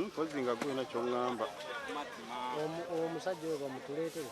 mpozi nga gulina kyoŋŋamba omusajja oyo bamutuleetere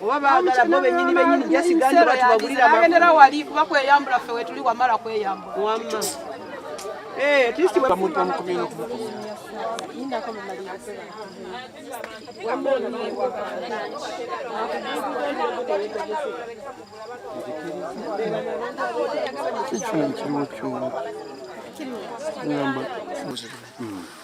oba baagala bo benyini benyini jasigandi batubagulira agendera wali kuba kweyambula ffe wetuli wamala kweyambula wamma eh, at least Thank you.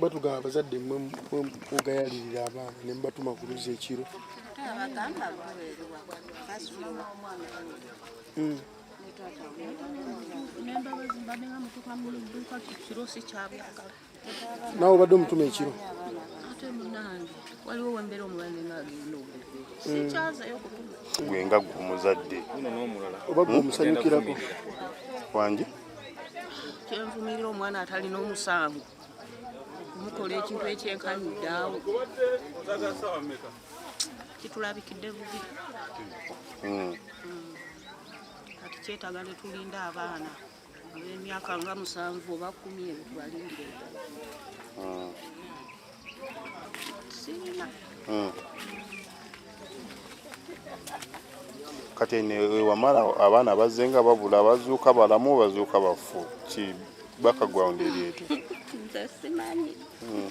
batugamba abazadde mwe mugayalirira abaana ne mubatuma ku luzzi ekiro hmm. nawe obadde omutuma ekiro waliwo wembera omulani nagenda sikyazayo kutuma gwe nga gwe omuzadde oba gwe omusanyukirako wangi kyenvumirira omwana atalina omusango kumukola ekintu ekyenkanyiddaawo kitulabikidde bubi hmm. kati kyetaga netulinda abaana ab'emyaka nga musanvu oba kumi ebyo tubalindire hmm. Hmm. kati wamala abaana bazze nga babula bazuuka balamu bazuuka bafu ki background eri etu hmm.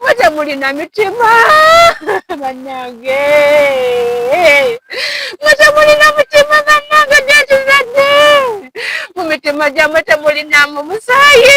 Mwaja mulina mitima banange, mwaja mulina mutima banange, gyekizadde mu mitima gyamwe temulinamu musaayi.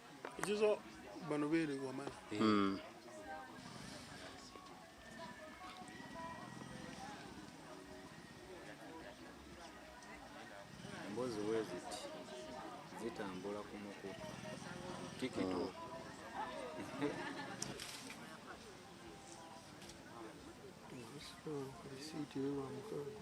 ekizo bano beere wamala hmm. embozi weziti zitambula ku muku tikito risiiti ewa mukaaga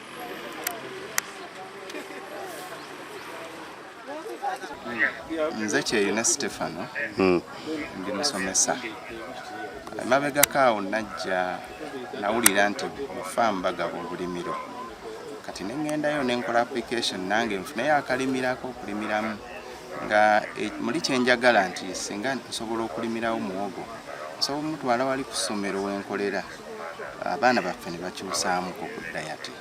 nze kyeyune stefano hmm. ndi musomesa emabegako awo najja nawulira nti ofamu bagaba obulimiro kati neŋŋendayo nenkola application nange nfuneyo akalimirako okulimiramu nga e, muli kyenjagala nti singa nsobola okulimirawo muwogo nsobola omutwala wali ku ssomero wenkolera abaana baffe nebakyusaamu kukudda yati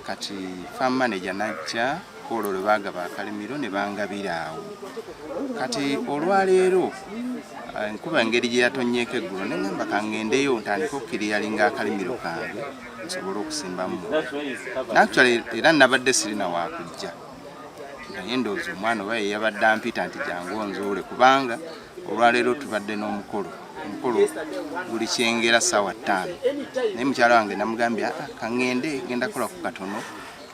kati farm manager najja olwo lwe baagaba akalimiro ne bangabira awo kati olwaleero eh, nkuba engeri gye yatonnyeko eggulo ne ŋamba kangendeyo ntandika okukiriyalinga akalimiro kange nsobole okusimbamu nactual era nabadde sirina wakujja naye ndowooza omwana oba yeyabadde ampita nti jangu onzuule kubanga olwaleero tubadde n'omukolo omukolo guli kyengera saawa ttaano naye mukyala wange namugambye ah, ah, kaŋŋende genda kola ku katono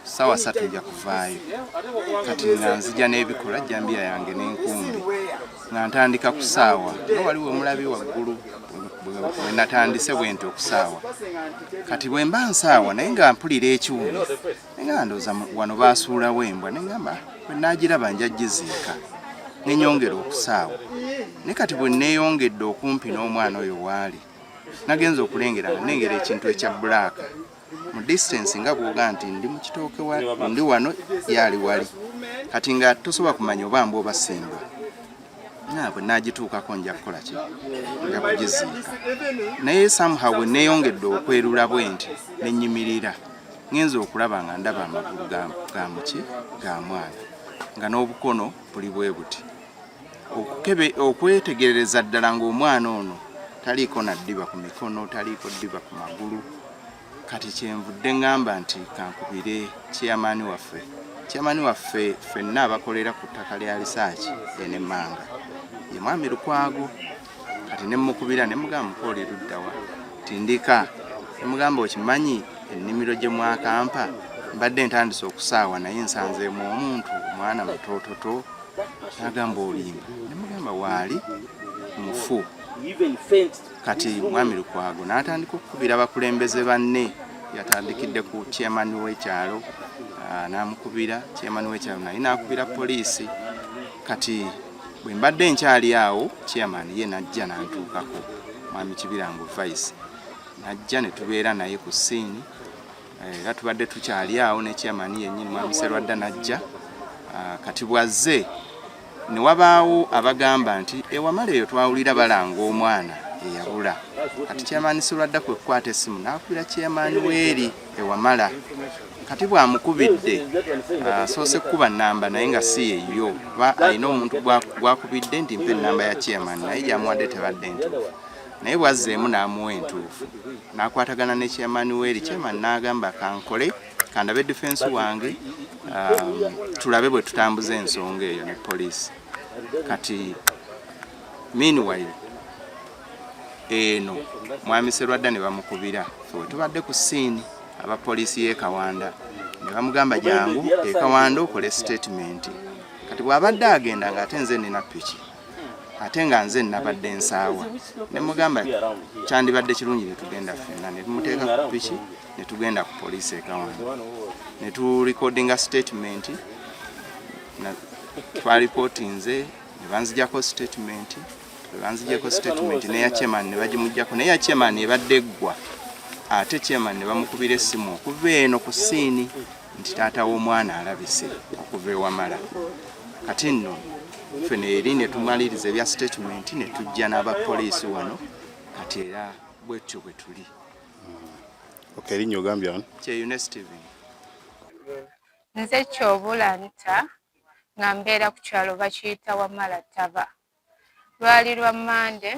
saawa satu nja kuvaayo kati nga nzija n'ebikola jambiya yange n'enkumbi nga ntandika ku saawa nga waliwo omulabi waggulu wenatandise bwenti okusaawa kati bwemba nsaawa naye nga mpulira ekiwuno nga ndoza wano basuulawo embwa nengamba bwenagiraba nja giziika nenyongera okusaawo ne kati bweneyongedde okumpi n'omwana oyo waali nagenza okulengera nga nengera ekintu ekya bulaaka mu distance nga bwoga nti ndi mu kitooke ndi wano yaali wali kati nga tosobola kumanya oba mba oba simba nabwe nagituukako nja kukola ki nja kugiziika naye somehow bweneyongedde okwerula bwe nti nenyimirira ngenze okulaba nga ndaba amagulu ga muki ga mwana nga n'obukono buli bwe buti okukebe okwetegereza ddala ng'omwana ono taliiko na ddiba ku mikono taliiko ddiba ku magulu kati kyenvudde ngamba nti kankubire chairman waffe chairman waffe fenna abakolera ku ttaka lya lisaaki enemanga ye mwami lukwago kati ne mukubira ne mugamba mukoole luddawa tindika ne mugamba okimanyi ennimiro gye mwakampa mbadde ntandise okusaawa naye nsanzeemu omuntu omwana mutototo nagamba olimba ne mugamba waali mufu kati mwami lukwago n'atandika okukubira abakulembeze banne yatandikidde ku chairman w'ekyalo ah, n'amukubira chairman w'ekyalo naye n'akubira poliisi kati bwe mbadde nkyali awo chairman ye najja nantuukako mwami kibirango vice najja ne tubeera naye ku siini eh, era tubadde tukyali awo ne chairman yennyini mwami serwadda najja ah, kati bwazze ne wabaawo abagamba nti ewamala eyo twawulira balanga omwana eyabula kati chairman serwadda kwe kukwata essimu n'akubira chairman weeri ewamala kati bwamukubidde asoose ah, kukuba namba naye nga si yeyo kuba alina omuntu gwakubidde nti mpa enamba ya chairman naye gyamuwadde tebadde entuufu naye bwazzeemu n'amuwa entuufu n'akwatagana ne chairman weeri chairman n'agamba kankole kandabe defense wange ah, tulabe bwe tutambuza ensonga eyo ne poliisi kati meanwhile eno mwami Serwadda ne bamukubira we tubadde ku siini aba poliisi y'e Kawanda ne bamugamba jangu e Kawanda okole sitetimenti kati bw'abadde agenda ng'ate nze nina piki ate nga nze nabadde nsaawa ne mugamba kyandibadde kirungi ne tugenda ffenna ne tumuteeka ku piki ne tugenda ku poliisi e Kawanda ne tulikodinga sitetimenti twalipotinze ne banzijako sitetimenti banzijeko statement neya chairman ne bagimujjako naye ya chairman ebadde eggwa ate chairman ne bamukubira essimu okuva eno ku siini nti taata w'omwana alabise okuva ewamala kati nno ffe neeri ne tumaliriza ebya statement ne tujja n'abapoliisi wano kati era bwetyo bwe tuli nze kyobulanta nga mbeera ku kyalo bakiyita wamala taba lwali lwa Mmande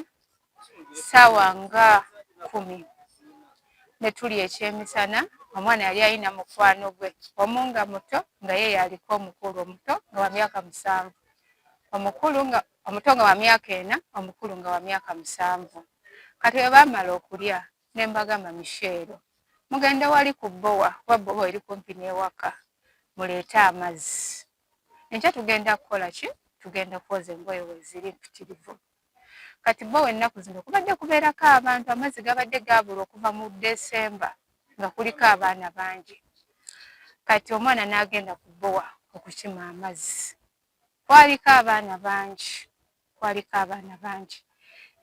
ssaawa nga kkumi ne tuli ekyemisana omwana yali ayina mukwano gwe omu nga muto nga ye yaliko omukulu omuto nga wa myaka musanvu omukulu nga omuto nga wa myaka ena omukulu nga wa myaka musanvu kati bwe baamala okulya ne mbagamba misheero mugende wali ku bbowa kuba bbowa eri kumpi n'ewaka muleete amazzi enkya tugenda kukola ki tugenda kwoza engoye weziri mpitirivu kati bo wennaku zino kubadde kubeerako abantu amazzi gabadde gaabula okuva mu desemba nga kuliko abaana bangi kati omwana n'agenda kubowa okukima amazzi kwaliko abaana bangi kwaliko abaana bangi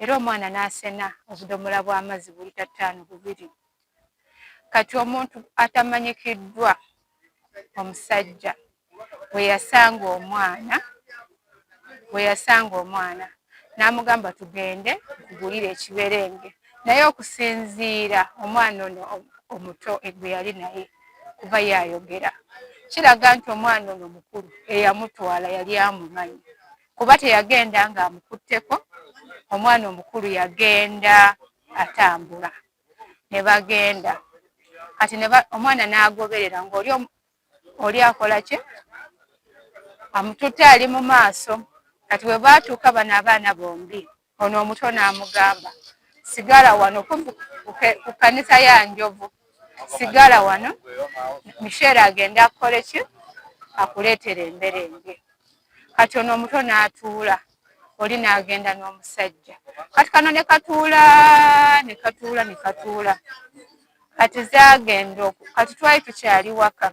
era omwana n'asena obudomola bw'amazzi buli tattaano bubiri kati omuntu atamanyikiddwa omusajja bwe yasanga omwana bwe yasanga omwana n'amugamba tugende nkugulire ekiberenge naye okusinziira omwana ono omuto egwe yali naye kuba yayogera kiraga nti omwana ono mukulu eyamutwala yali amumanyi kuba teyagenda nga amukutteko omwana omukulu yagenda atambula ne bagenda kati omwana n'agoberera ngaoli oli akola ki amututte ali mu maaso kati bwe baatuuka bano abaana bombi Ono omuto n'amugamba, sigala wano ku kanisa ya njovu, sigala wano, Misheera agende akukole ki akuleetere emberenge. Kati ono omuto n'atuula, oli n'agenda n'omusajja. Kati kano ne katuula ne katuula ne katuula. kati zagenda oku kati twali tukyali waka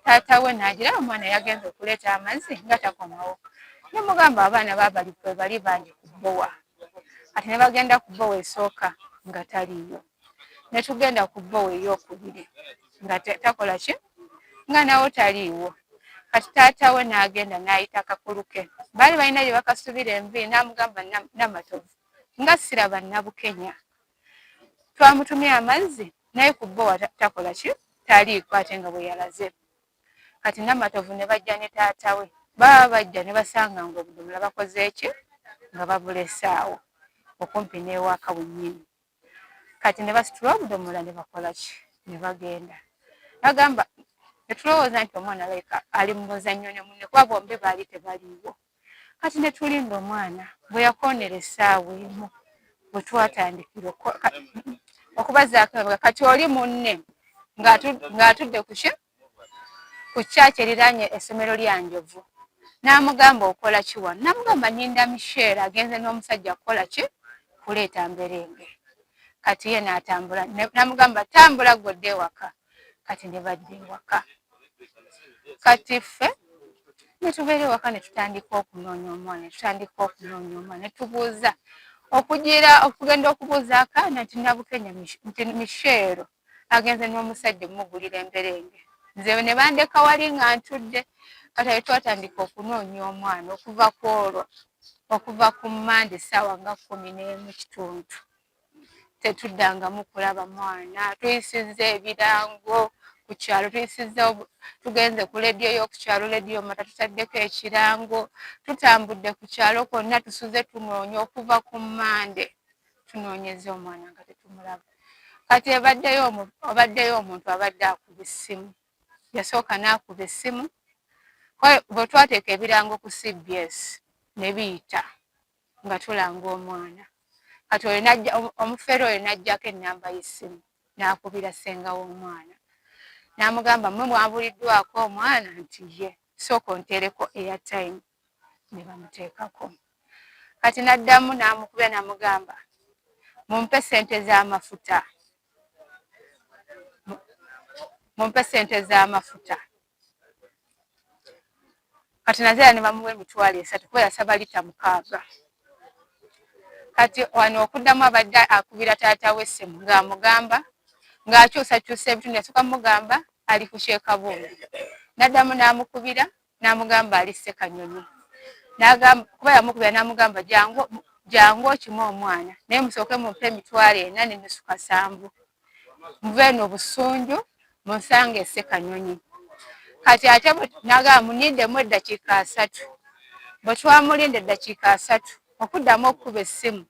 taata we nagira omwana yagenda okuleeta amazzi nga takomawo nemugamba abaana babali kwe bali bandi kubowa kati ne bagenda kubowa esooka nga taliiyo ne tugenda kubowa eyokubiri nga takola ki nga nawo taliiwo kati taata we nagenda nayita kakulu ke baali balina gye bakasubira envi namugamba namatovu nga siraba nabukenya twamutumye amazzi naye ku bbowa takola ki taliiko ate nga bwe yalaze kati namatovu ne bajja ne taata we baba bajja ne basanga nga obudomola bakoze eki nga babulesaawo okumpi n'ewaka wennyini kati ne basitula obudomola ne bakola ki ne bagenda agamba netulowooza nti omwana like ali mu muzannyo ne munne kuba bombi baali tebaliiwo kati ne tulinda omwana bwe yakoonera essaawa emu bwe twatandikira okubazaako emabega kati oli munne ng'atudde kuki ku kyaki eriraanye essomero lya njovu n'amugamba okola kiwa namugamba nyinda misheera agenze n'omusajja kukola ki kuleeta mberenge kati ye n'atambula namugamba tambula ggodde ewaka kati ne badda ewaka kati ffe netubeera ewaka netutandika okunoonya omwana netutandika okunoonya omwana netubuuza okugira okugenda okubuuza akaana nti nabukenya nti misheero agenze n'omusajja omugulira emberenge nze ne bandeka wali nga ntudde kati ayo twatandika okunoonya omwana okuva ku olwo okuva ku mande saawa nga kumi n'emu kitundu tetuddangamu kulaba mwana tuyisizza ebirango ku kyalo tuyisizza tugenze ku lediyo y'okukyalo lediyo mata tutaddeko ekirango tutambudde ku kyalo kwonna tusuze tunoonya okuva ku mmande tunoonyeza omwana nga tetumulaba kati ebaddeyo obaddeyo omuntu abadde akuba essimu yasooka n'akuba essimu bwe twateeka ebirango ku cbs ne biyita nga tulanga omwana kati oyo najja omufere oyo najjako enamba yesimu nakubira senga womwana namugamba mwe mwabuliddwako omwana nti ye sooka ontereko eya time ne bamuteekako kati naddamu namukubira namugamba mumpe sente zamafuta mumpe sente zamafuta kati naze era ne bamuwa emitwalo esatu kuba yasaba lita mukaaga kati wano okuddamu abadde akubira taata we essimu ng'amugamba ng'akyusakyusa ebitundu yasooka mugamba ali ku kyekabungu n'addamu n'amukubira n'amugamba ali ssekanyonyi kuba yamukubira n'amugamba jangu okima omwana naye musooke mumpe emitwalo ena nenusu kasanvu muva eno busunju munsanga ese kanyonyi kati ate naga munindemu eddakiika asatu bwe twamulinda eddakiika asatu okuddamu okukuba essimu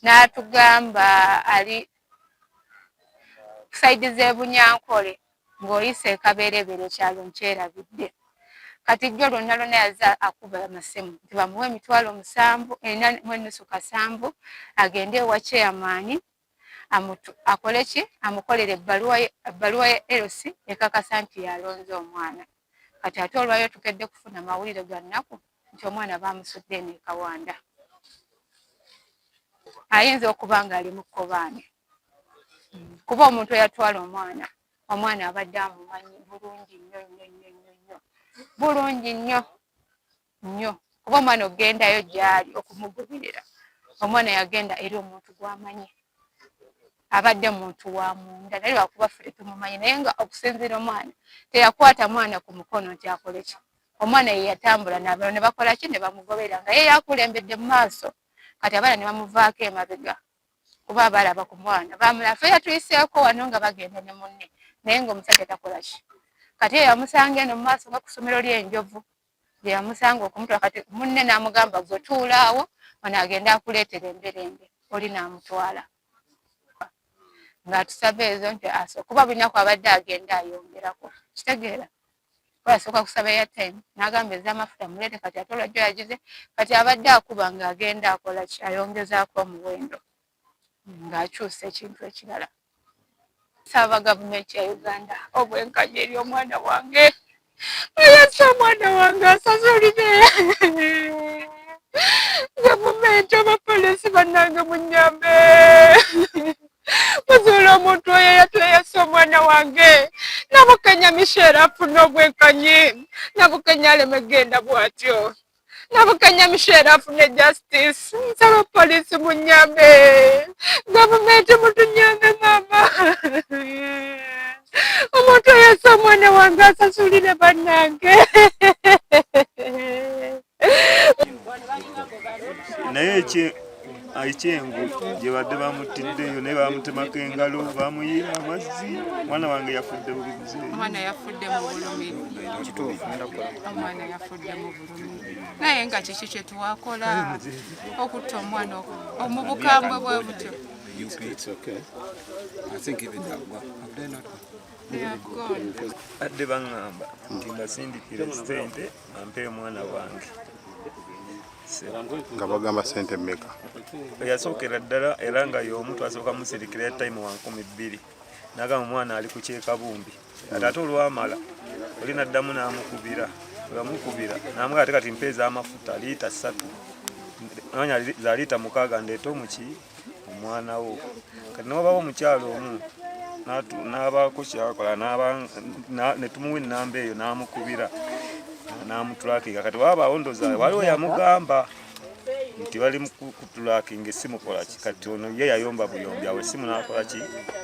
n'atugamba ali saidi z'ebunyankole ng'oyise ekabeerebeere ekyalo nkyerabidde kati jjo lwonna lwonna yaza akuba amasimu nti bamuwa emitwalo musanvu ena mwenusu kasanvu agende ewa chairmani akole ki amukolere ebbaluwa ya LC ekakasa nti yalonze omwana kati ate olwayo tukedde kufuna mawulire ga nnaku nti omwana bamusudde eno ekawanda ayinza okuba ngaali mu kkobaane hmm. kuba omuntu eyatwala omwana omwana abadde amumanyi bulungi nnyo nnyo nnyo nnyo nnyo bulungi nnyo nnyo kuba omwana okugendayo gyali okumugubirira omwana yagenda eri omuntu gwamanyi abadde muntu wa munda naye lwakuba ffe tetumumanyi naye nga okusinziira omwana teyakwata mwana ku mukono nti akole ki omwana ye yatambula nabalo ne bakola ki ne bamugobera nga ye yakulembedde mu maaso kati abaana ne bamuvaako emabega kuba abalaba ku mwana bamula fe yatuyiseeko wano nga bagenda ne munne naye nga omusajja takola ki kati eyo amusanga eno mu maaso nga ku ssomero ly'enjovu gyeyamusanga okumutula kati munne namugamba gwe tuulaawo ono agende akuleetera emberembe oli namutwala ngaatusaba ezo nti aso kuba bulinaku abadde agenda ayongerako kitegeera asooka kusaba eyatime nagamba ezamafuta muleete kati ate olwajjo yagize kati abadde akuba ngaagenda akola ki ayongezaako omuwendo ng'akyusa ekintu ekirala nsaba gavumenti ya uganda obwenkanya eri omwana wange ayasa omwana wange asazulire gavumenti abapolisi banange munyambe muzuula omuntu oyo yatweyasa omwana wange nabukenya misheera afuna obwenkanyi nabukenya aleme genda bwatyo nabukanya mishera afune justice nsaba polisi munyambe gavumenti mutunyambe mama omuntu oyesa omwana wange asasulire banange naye aikyengo gyebadde bamuttiddeyo naye bamutemako engalo bamuyiira amazzi omwana wange yafudde bubi omwana yafudde mu bulumi omwana yafudde mu bulumi naye nga kiki kyetuwakola okutta omwana omubukambwe bwe butyo adde baŋŋamba nti mbasindikire sente ampe omwana wange nga bagamba sente meka eyasookera ddala era nga y'omu twasooka musirikira ya time wa nkumi bbiri nagamba omwana ali ku kyekabumbi ate ate olwamala oli naddamu namukubira weyamukubira namuga ate kati mpeeza amafuta liita ssatu nonya za liita mukaaga ndeete omuki omwana wo kati nobawo omukyalo omu n'abaako kyakola ne tumuwa ennamba eyo n'amukubira n'amutulakinga kati wabaawo ndoza waliwo yamugamba nti bali mukutulakinga essimu kolaki kati ono ye yayomba buyombi awo essimu n'akolaki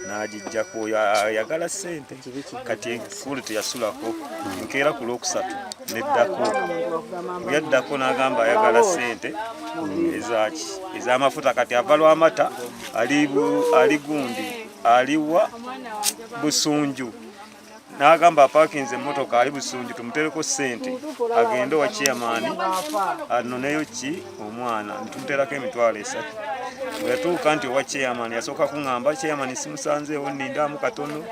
n'agijjako yagala ssente kati ekulu teyasulako nkeera ku lwokusatu neddako yaddako n'agamba ayagala sente ezaki ez'amafuta kati ava lwamata ali gundi aliwa busunju n'agamba apakinze emmotoka ali busunju tumutereko sente agende owa chairman anoneyo ki omwana ntumuterako emitwalo esatu weyatuuka nti owa chairman yasooka kuŋamba chairman simusanzeewo nindamu katono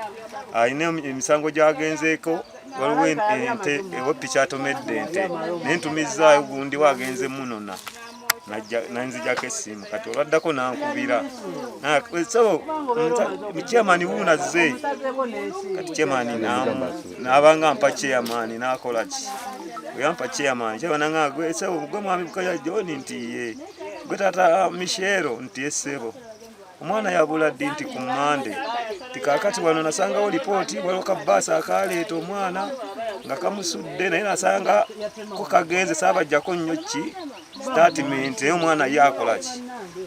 alina emisango gyagenzeeko waliwo ente ewepiki atomedde ente naye ntumizaayo gundi wagenze munona nanzijako esimu kati olwaddako nankubira so chairman wuunazze kati chairman namu nabanga mpa chairman nakola ki oyampa chairman chairman nga gwe sebo gwe mwami bukaya John nti ye gwe tata Michelle nti esebo omwana yabula ddi nti ku mande tikakati wano nasangawo lipooti waliwo kabaasa akaleeta omwana nga kamusudde naye nasanga ko kagenze saabajjako nnyo ki statement naye omwana ye akolaki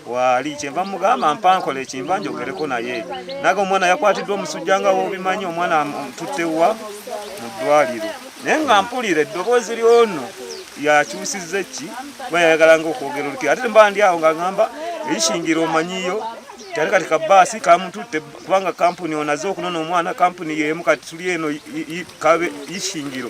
waali kyenva mugamba mpankola ekimba njogereko naye naga omwana yakwatiddwa omusujja nga wobimanyi omwana tuttewa mu ddwaliro naye nga mpulira eddoboozi lyono yakyusiza eki kuba yayagala nga okwogera olukiro ate mba ndi awo nga ngamba eishingira omanyiyo kyali kati kabaasi kamututte kubanga kampuni onaze okunona omwana kampuni yemu kati tuli eno kabe ishingiro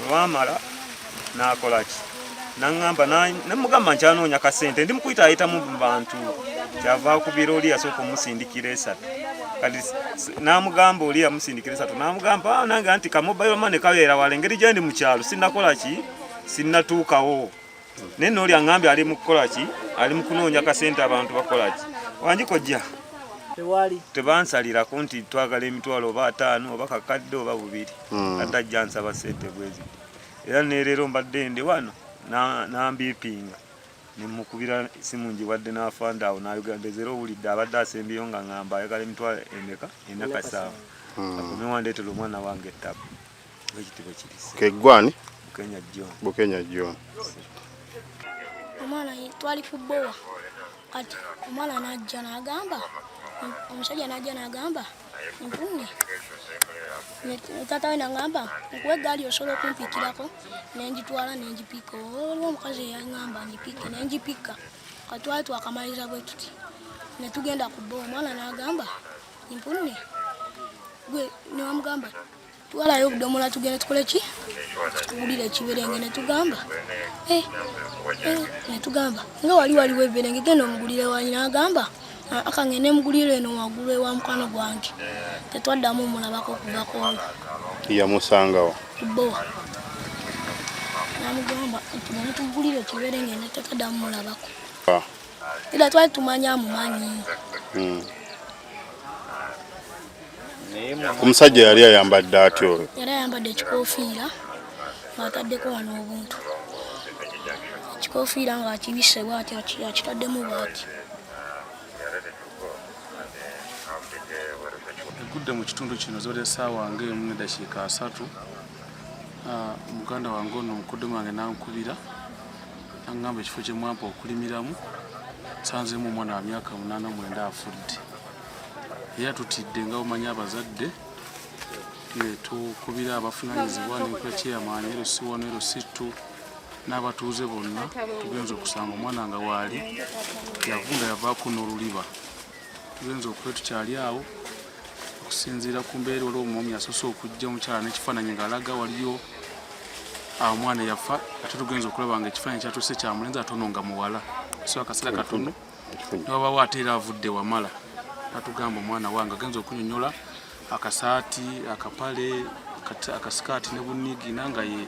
olwamala nakolaki naŋamba nemugamba nti anoonya kasente ndi mukuyita ayitamu bantu kyava akubira oli yasooka omusindikira esatu kati namugamba oli yamusindikira esatu namugamba ah, nange anti kamobairo mane kabeera wala engeri gyendi mukyalo sinakolaki sinatuukawo naye nooli aŋambye ali mukukolaki ali mukunoonya kasente abantu bakolaki wanjikojja tewali tebansalirako nti twagala emitwalo oba ataano oba kakadde oba bubiri hmm. ate ajja nsaba sente bwezi era nereero mbadde ndi wano nambiipinga nemukubira simu njiwadde n'afanda awo nayogera ndezera owulidde abadde asembyeyo nga ŋamba ayagala emitwalo emeka enakasaawa hmm. akumiwandeetera omwana wange ettabu Keggwani Bukenya John. Omwana twali ku bbowa kati omwana n'ajja n'agamba omusajja n'ajja n'agamba nkunge taata we nangamba nkuwa eggaali osobola okumpikirako nengitwala nengipika oliwo omukazi eyangamba ngipike nengipika katwali twakamaliriza bwe tuti netugenda ku bbowa omwana n'agamba nkunge gwe newamugamba twalayo obudomola tugende tukole ki tuwulire ekiberenge netugamba eh, eh, netugamba nga wali waliwo ebiberenge genda omugulire wanyina agamba ah, akange nemugulire eno wagulu ewa mukwano gwange tetwaddamu omulabako okuvako yamusangawo bowa namugamba nti netugulire ekiberenge netekadamu mulabako ah. Ila twali tumanyi amumanyi. Hmm. Omusajja yali ayambadde atya olwo? Yali ayambadde ekikofiira ng'ataddeko wano obuntu. Ekikofiira ng'akibisse bw'ati akitaddemu bw'ati. Egudde mu kitundu kino zibadde ssaawa ng'emu n'eddakiika asatu. Ah, muganda wange ono mukoddomi wange n'ankubira Angamba ekifo kye mwampa okulimiramu sanzemu omwana wa myaka munaana mwenda afudde era tutidde nga omanya abazadde netukubira abafunanyizibwa nenkula kyeyamaanyi ero si wano ero si tu n'abatuuze bonna tugenza okusanga omwana nga waali yavunda yavaako n'oluliba tugenza okuba tukyali awo okusinziira ku mbeera olwo omwami asoose okujja omukyala n'ekifaananyi ng'alaga waliyo ah, omwana yafa ate tugenza okulaba nga ekifaananyi kyatuuse kya mulenzi atono nga muwala so akaseera katono newabawo ate era avudde wamala natugamba omwana wange agenza okunyonyola akasaati akapale akasikaati ne bunigina nga ye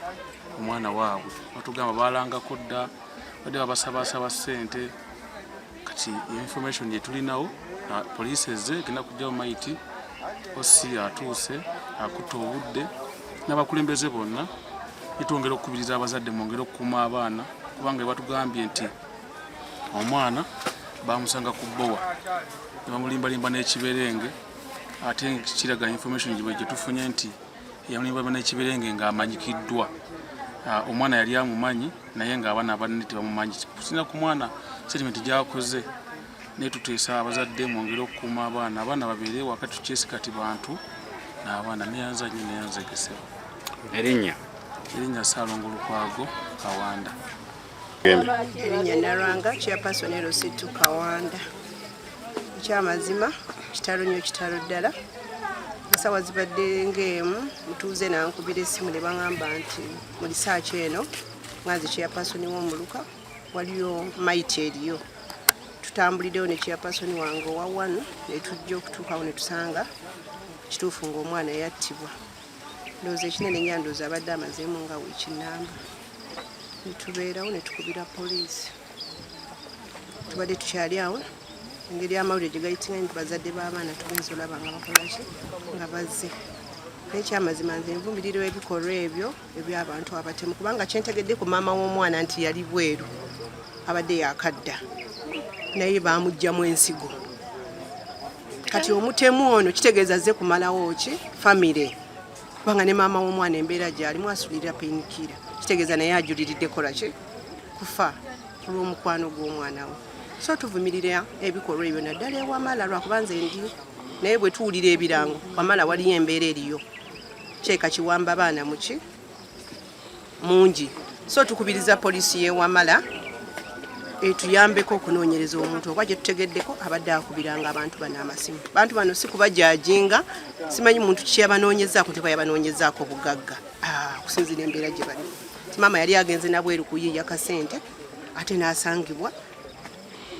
omwana waabwe batugamba balangako dda badde babasabasaba ssente kati information gyetulinawo ah, poliisi ezze egenda kujjawo maiti osi atuuse akutta obudde n'abakulembeze bonna netwongera okukubiriza abazadde mwongere okukuuma abaana kubanga ebatugambye nti omwana bamusanga ku bbowa nebamulimbalimba n'ekiberenge ate kiraga information gyetufunye nti yamulibaba nekibirenge nga amanyikiddwa ah, omwana yali amumanyi naye nga abaana abanene tebamumanyi kusinza ku mwana setimenti gyakoze naye tuteesa abazadde mwongere okukuuma abaana abaana babeere wakati tukyesi kati bantu naabaana neyanza nyo neyanza egesebo erinnya erinnya saalongo lukwago kawanda Erinnya Nalwanga chairperson Lusitu Kawanda. Ekyamazima kitalo nnyo kitalo ddala. Ensawa zibadde ng'emu mutuuze nankubira essimu ne bangamba nti mu lisaaki eno nga nze chairperson w'omuluka waliyo mayiti eriyo tutambulidewo ne chairperson wange owa wano ne tujja okutuukawo ne tusanga kituufu ng'omwana yattibwa. ndowooza ekinene nya ndowooza abadde amazeemu nga wiiki namba netubeerawo netukubira poliisi tubadde tukyali awo engeri amawulire gye gayitinga nti bazadde b'abaana tugenza olaba nga bakolaki nga bazze nekyamazima nze nvumirira ebikolwa ebyo ebyabantu abatemu kubanga kyentegedde ku maama w'omwana nti yali bweru abadde yakadda naye bamugjamu ensigo kati omutemu ono kitegeeza ze kumalawo ki famire kubanga ne maama w'omwana embeera gyalimu asulirira painkira kitegeeza naye ajuliridde kolaki kufa ku lw'omukwano gw'omwana we so tuvumirira ebikolwa ebyo naddala ewamala lwakuba nze ndi naye bwe tuwulira ebirango wamala waliyo embeera eriyo kyeka kiwamba baana muki mungi so tukubiriza poliisi y'e Wamala etuyambeko okunoonyereza omuntu oba gye tutegeddeko abadde akubiranga abantu bano amasimu abantu bano si kubajajinga simanyi muntu kiki yabanoonyezaako nti bayabanoonyezaako bugagga ah, okusinzira embeera gye balimu maama yali agenze nabweru kuyiiya kasente ate n'asangibwa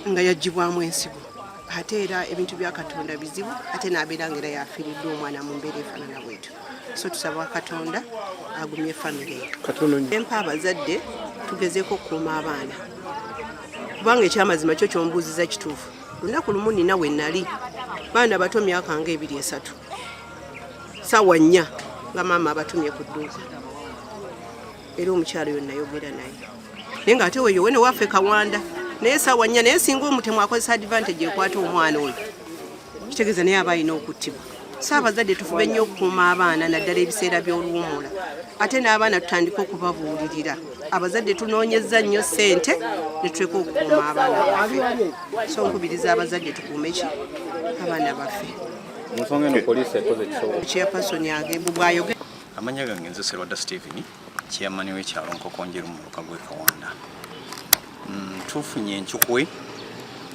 nga yagibwamu ensigo ate era ebintu bya katonda bizibu ate n'abeera nga era yafiiriddwa omwana mu mbeera efaanana bwetu so tusaba katonda agumye famire empa abazadde tugezeeko okukuuma abaana kubanga ekyamazima kyo kyombuuziza kituufu lunaku lumu nina we nali baana bato myaka nga ebiri esatu sawa nnya nga maama abatumye ku dduuka era omukyalo yo nayogera naye naye nga ate weyo wene waffe kawanda naye sawa nnya naye singa omutemu akozesa advantage ekwata omwana oyo kitegeeza naye aba alina okuttibwa saabazadde tufube nnyo okukuuma abaana naddala ebiseera by'oluwumula ate n'abaana tutandike okubabuulirira abazadde tunoonyezza nnyo ssente ne tuleka okukuuma abaana baffe so nkubiriza abazadde tukuume ki abaana baffe nsonga eno poliisi ekoze kisobola chairperson agembu bwayoge Amanya gange nze Serwada Steven chairman w'ekyalo Nkokonjeru mu muluka gw'e Kawanda. Mm, tufunye enkyukwe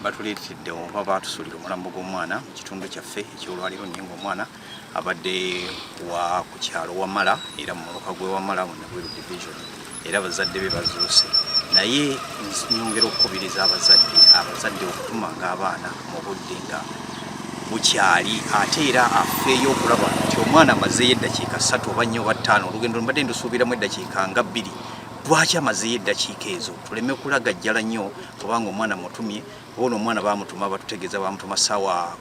batuleetedde oba baatusuulira omulambo gw'omwana mu kitundu kyaffe ekyolwaliro naye ng'omwana abadde wa ku kyalo Wamala era mu muluka gw'e Wamala mu Nagweru division. era bazadde be bazuuse naye nyongera okukubiriza abazadde abazadde okutumanga abaana mu budde nga bukyali ate era afeeyo okulaba nti omwana amazeeyo eddakiika ssatu oba nnyo oba ttaano olugendo mbadde ndusuubiramu eddakiika nga bbiri lwaki amazeeyo eddakiika ezo tuleme kulagajjala nnyo kubanga omwana mutumye oba no omwana bamutuma batutegeeza bamutuma saawa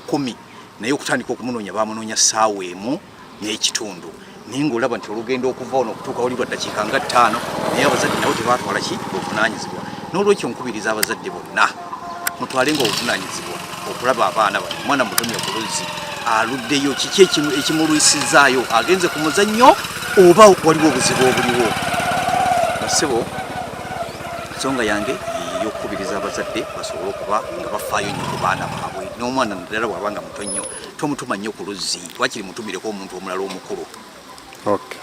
kumi naye okutandika okumunoonya bamunoonya saawa emu n'ekitundu naye ng'olaba nti olugendo okuva ono okutuuka wali lwa ddakiika nga ttaano naye abazadde nabo tebaatwala ki obuvunaanyizibwa n'olwekyo nkubiriza abazadde bonna mutwale nga obuvunaanyizibwa okulaba abaana bano omwana mutomya ku luzzi aluddeyo kiki ekimulwisizaayo agenze ku muzannyo oba waliwo obuzibu obuliwo basebo ensonga yange eyokukubiriza abazadde basobole okuba nga bafaayo nnyo ku baana baabwe n'omwana naddala bw'aba nga muto nnyo tomutuma nnyo ku luzzi wakiri mutumireko omuntu omulala omukulu okay.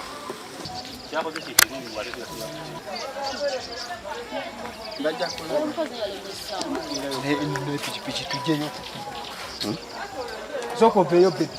pikipiki tujeyo soko veyo bebi